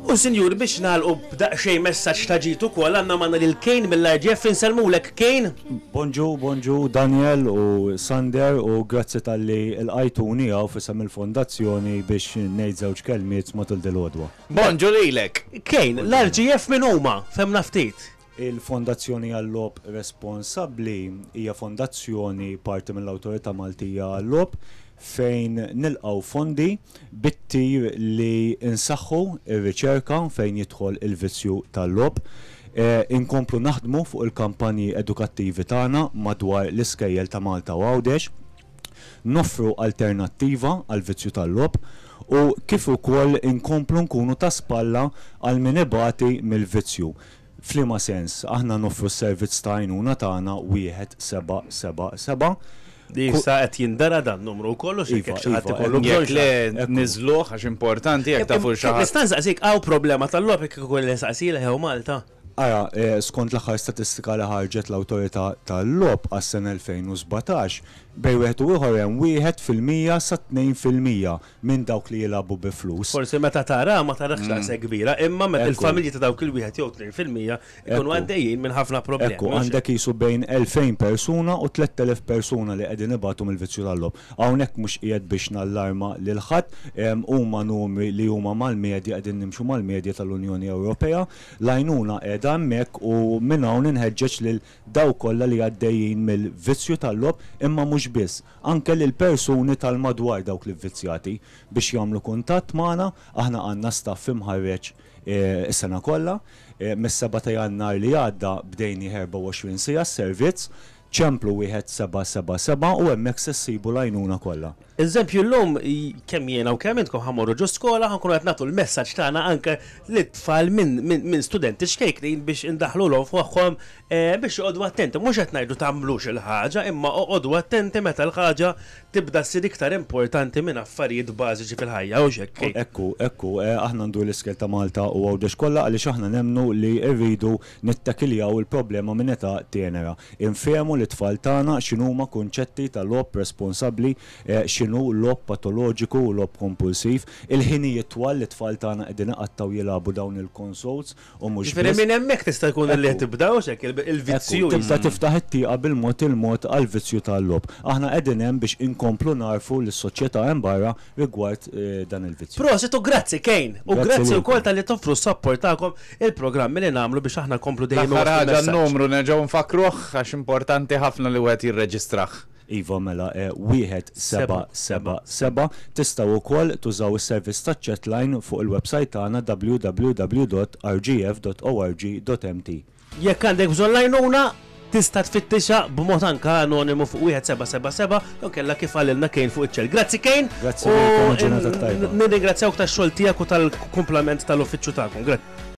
U sinjuri biex nagħlqu b'daqsxejn messaġġ ta' ġid ukoll għandna magħna lil Kane mill-RGF insellmulek Kane. Bonġu, bonġu Daniel u Sander u grazzi talli lqajtuni hawn f'isem il-Fondazzjoni biex ngħid żewġ kelmiet matul dil-għodwa. Bonġu lilek. Kane, l-RGF min huma? Fhemna ftit. Il-Fondazzjoni għal-Logħob Responsabbli hija fondazzjoni parti mill-Awtorità Maltija għal-Logħob fejn nilqgħu fondi bit-tir li nsaħħu r-riċerka fejn jidħol il-vizzju tal-logħob, inkomplu naħdmu fuq il-kampanji edukattivi tagħna madwar l-iskejjel ta' Malta u Għawdex, noffru alternattiva għall-vizzju tal-logħob u kif ukoll inkomplu nkunu ta' spalla għal min ibati mill-vizzju. F'liema sens? Aħna noffru s-servizz ta' għajnuna tagħna 1777 Li ku. issa qed jindera dan numru wkoll u x'hekk Iva, jekk xi ħadd iva, hekk ikollu bżonn Jekk le, xi ħadd. Ekku. niżżluh għax importanti jekk tafu li xi Kif ħadd. nista' nsaqsik hawn problema tal-logħob jekk ikun li nsaqsi leħew Malta? Ara, skont l-aħħar statistika li ħarġet l-Awtorità tal-Logħob għas-sena 2017, bejn wieħed u ieħor hemm wieħed fil-mija sa tnejn fil-mija minn dawk li jilagħbu bi flus. Forsi meta taraha ma tarax daqshekk kbira, imma meta l-familji ta' dawk il-wieħed jew tnejn fil-mija jkunu għaddejjin minn ħafna problemi. Ekku, għandek qisu bejn 2,000 persuna u 3,000 persuna li qegħdin ibatu mill-vizzju tal-logħob. Hawnhekk mhux qiegħed biex nallarma lil ħadd, huma numri li huma mal-medja, qegħdin nimxu mal-medja tal-Unjoni Ewropea. L-għajnuna qiegħda hemmhekk u minn hawn inħeġġeġ lil dawk kollha li għaddejjin mill-vizzju tal-logħob imma mhux biss, anke lill-persuni tal-madwar dawk l-ivvizzjati. Biex jagħmlu kuntatt magħna, aħna għandna staff imħarreġ is-sena kollha. Mis-seba' ta' Jannar li għadda bdejnieh 24 siegħa s-servizz. Ċemplu wieħed seba' seba' seba' u hemmhekk se ssibu l-għajnuna kollha. Eżempju, llum kemm jiena u kemm intkom ħa mmorru ġo skola ħa nkunu qed nagħtu l-messaġġ tagħna anke lit-tfal minn studenti ċkejknin biex indaħħlulhom f'moħħhom biex joqogħdu attenti. Mhux qed ngħidu tagħmlux il-ħaġa imma oqogħdu attenti meta l-ħaġa tibda ssir iktar importanti minn affarijiet bażiċi fil-ħajja, hux hekk Kate? Hekk hu, hekk hu. Aħna ndur l-iskel ta' Malta u Għawdex kollha għaliex aħna nemmnu li rridu Nittakiljaw il-problema minn età tenera. Infehmu lit-tfal tagħna x'inhuma kunċetti ta' logħob responsabbli, x'inhu logħob patoloġiku u logħob kompulsiv. Il-ħinijiet twal li t-tfal tagħna qegħdin iqattgħu jilagħbu dawn il-consoles u mhux biss. Jiġifieri minn hemmhekk tista' jkun li qed tibda, hux hekk, il-vizzju. Ekku, tibda tiftaħ it-tieqa bil-mod il-mod għall-vizzju tal-logħob. Aħna qegħdin hemm biex inkomplu nagħrfu lis-soċjetà hemm barra rigward dan il-vizzju. Prosit u grazzi Kane! U grazzi wkoll talli toffru s-sapport tagħkom il-programmi li nagħmlu biex aħna nkomplu dejjem inwasslu l-messaġġ. L-aħħar ħaġa n-numru nerġgħu nfakkruh għax importanti ħafna li wieħed jirreġistrah. Iva mela e 1777. Tistgħu wkoll tużaw is-servizz taċ-chatline fuq il-websajt tagħna www.rgf.org.mt. Jekk għandek bżonn l-għajnuna, tista' tfittixha b'mod anke anonimu fuq 1777 jew kellha kif qalilna Kane fuq iċ-ċell. Grazzi Kane! Grazzi lilkom u ġurnata tajba. Nirringrazzjawk tax-xogħol tiegħek u tal-kumplament tal-uffiċċju tagħkom. Grazzi.